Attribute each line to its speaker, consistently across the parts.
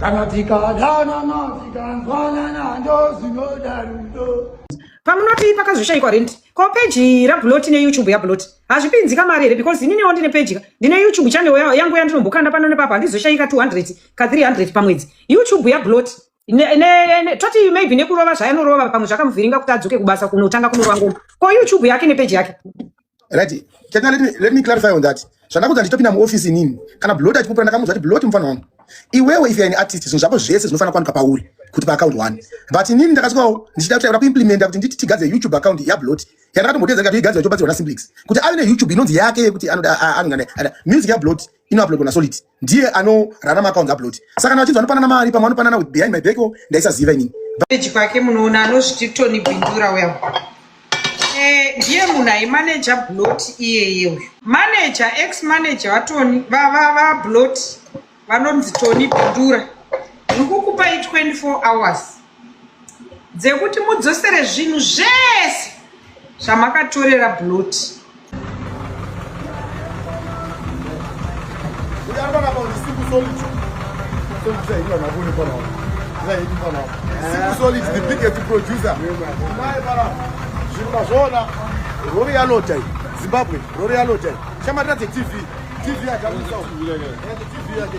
Speaker 1: kana tikadanana tikanzwanana ndozvinoda rudo pamunoti pakazoshaikwa rent ko peji rablot neyoutube yablot hazvipinzi kamari here because ininiwo ndine peji ka ndine youtube channel yangu yandinombokanda pano nepapa handizoshaika 200 ka 300 pamwedzi youtube yablot toti maybe nekurova zvayanorova pamwe zvakamuvhiringa kuti adzoke kubasa kunotanga kunorova ngoma ko youtube yake nepeji yake right
Speaker 2: can let me, let me clarify on that zvandakuudza ndichitopinda muoffice inini kana blot achipupura ndakamuudza kuti blot mufana wangu iwewe if you're an artist zvinhu zvako zvese zvinofanira kuwanika pauri kuti paaccount one but inini ndakasvikawo ndichida kutaura kuimplementa kuti nditi tigadze youtube account yablot yandakatombotedza ndikati igadzira chobatsirwa nasimplix kuti ave neyoutube inonzi yake yekuti anoda anonga music yablot inouploadwa nasolid ndiye anorarama akaunza upload saka kana vachinzi vanopanana mari pamwe vanopanana with behind my back o ndaisaziva inini peji kwake munoona
Speaker 1: anozviti tony bindura uya eh, ndiye munhu aimaneja blot iyeye uyu maneja ex maneja vatoni vablot vanonzi tony bindura ndikukupai 24 hours dzekuti mudzosere zvinhu zvese zvamakatorera bloti
Speaker 3: zvirumazvoona rori yanota zimbabwe rori yanota chamatira dzetv tv yakaisa tv yake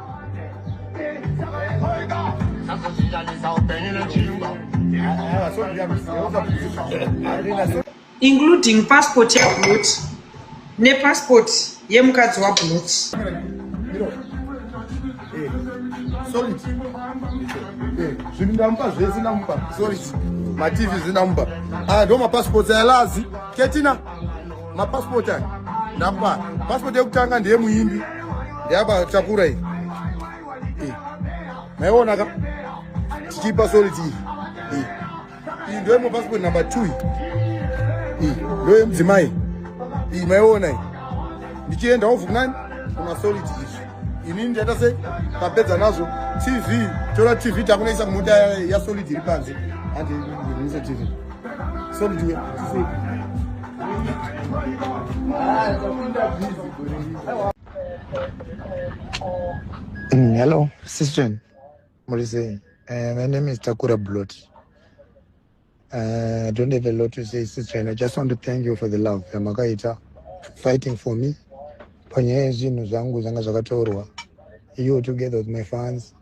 Speaker 1: including passport yablut nepassport yemukadzi wablut
Speaker 3: zvinhu ndamupa zvese ndamupa sorry mativi zvindamupa aya ah, ndo mapassports ayalazi ketina mapasipoti aya ndapa pasipoti yekutanga ndiye muimbi ndeyaba takura iyi eh. maiona ka tichipa soliti iyi eh. iyi ndoye mapasipoti namba two iyi eh. ndoye mudzimai iyi maiona iyi ndichienda ovhu kunani kumasoliti izvi inini ndiyaita sei tapedza nazvo tv tora tv takunaisa kumota yasolidi iri panze andiise tv solidi
Speaker 4: Mm, hello, sister. What is it? Uh, my name is Takura Blot. Uh, I don't have a lot to say, sister. I just want to thank you for the love. Yamakaita fighting for me. Panyaya zvinhu zvangu zvanga zvakatorwa. You together with my fans.